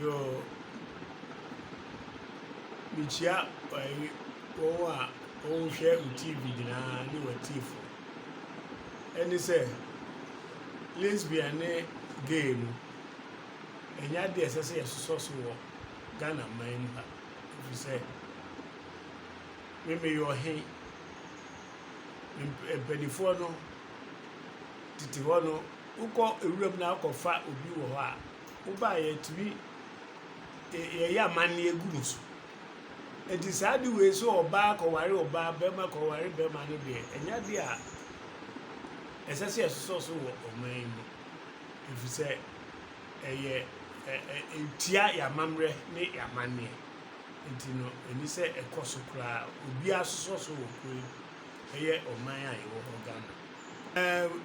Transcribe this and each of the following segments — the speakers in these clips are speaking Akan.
Yoo, mikyia wɔn a wɔhwɛ wo TV nyinaa ne w'atiefo. Ɛne sɛ, lesbian ne gay no, ɛnyɛ ade a ɛsɛ sɛ yɛsosɔ so wɔ Ghana man mu ha, ɛfiri sɛ, me meyɛ ɔhe, me mpanimfoɔ no tete hɔ no. Wokɔ nwuram na akɔfa obi wɔ hɔ a, woba a yɛtumi yɛyɛ amanneɛ gu mo so. Enti saa ade wei sɛ ɔbaa kɔware ɔbaa, barima kɔware barima no deɛ, ɛnyɛ ade a ɛsɛ sɛ yɛsosɔ so wɔ ɔman yi mu, ɛfiri sɛ ɛyɛ ɛ ɛ ɛtia yɛn amammerɛ ne yɛn amanneɛ. Enti no, ɛni sɛ ɛkɔ so koraa. Obiara sosɔ so wɔ kuro yi mu, ɛyɛ ɔman a yɛwɔ hɔ, Ghana.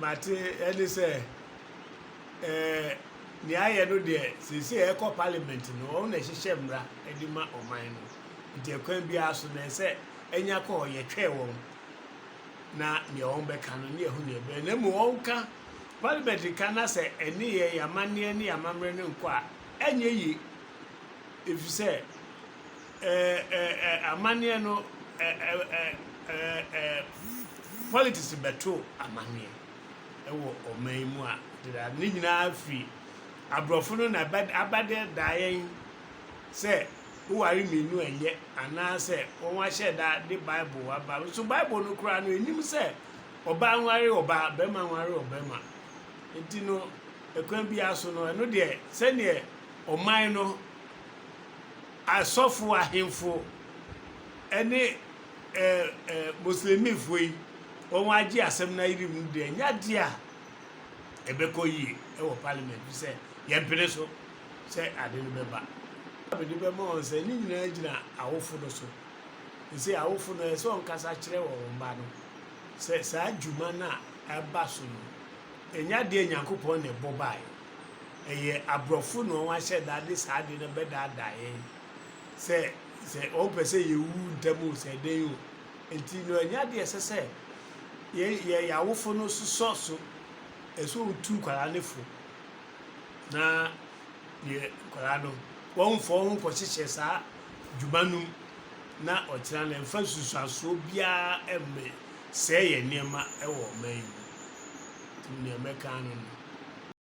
Mate ɛne sɛ nea ayɛ no deɛ seesei ɛkɔ parliament no wɔn na ɛhyehyɛ mmara ɛde ma ɔman no nti ɛkwan biara so na ɛsɛ ɛnya kɔ hɔ yɛtwɛn wɔn na nea wɔn bɛka no ne ɛho nea ɛbɛyɛ na mu wɔn ka parliament ka na sɛ ɛne yɛ yamanneɛ ne yamammerɛ no nkɔ a ɛnyɛ yie efisɛ. Ɛɛ amanneɛ no ɛɛ politics bɛto amanneɛ wɔ ɔman yi mu a dedaado ne nyinaa firi aborɔfo no na abɛda da yɛn sɛ woware mmienu ɛnyɛ anaasɛ wɔn ahyɛ da de bible aba nso bible no koraa no ɛnim sɛ ɔbaa nware ɔbaa bɛrima nware ɔbɛrima nti no ɛkwan biara so no ɛno deɛ sɛdeɛ ɔman no Asɔfo ahemfo ne Muslimifo yi wɔagye asɛm no ayiri mu no deɛ, ɛnyɛ adeɛ a ɛbɛkɔ yie wɔ Parliament mu sɛ yɛmpene so sɛ ade no bɛba. A mede bɛma wɔn sɛ, ne nyinaa gyina awofo no so. Ese awofo no, ɛsɛ sɛ wɔkasa kyerɛ wɔn mma no sɛ saa dwuma no a ɛreba so no, ɛnyɛ adeɛ a Nyankopɔn na ɛbɔ baeɛ. ɛyɛ abrɔfo na wɔn ahyɛ da de saa ade no bɛdaadaa yɛn sɛ sɛ wɔn pɛ sɛ yɛwu ntɛm o sɛ ɛdɛn o nti no ɛnyɛ adeɛ ɛsɛ sɛ yɛ yɛ yɛawofo no sosɔ so ɛsɛ wɔn tu nkwadaa no fo na yɛ nkwadaa no wɔn mfɔ wɔn ho kɔ hyehyɛ saa dwuma no mu na ɔkyerɛ na mfa nsusuasoɔ biara ɛmɛ sɛɛ yɛ nneɛma ɛwɔ ɔman yi mu nti nea mɛka no no.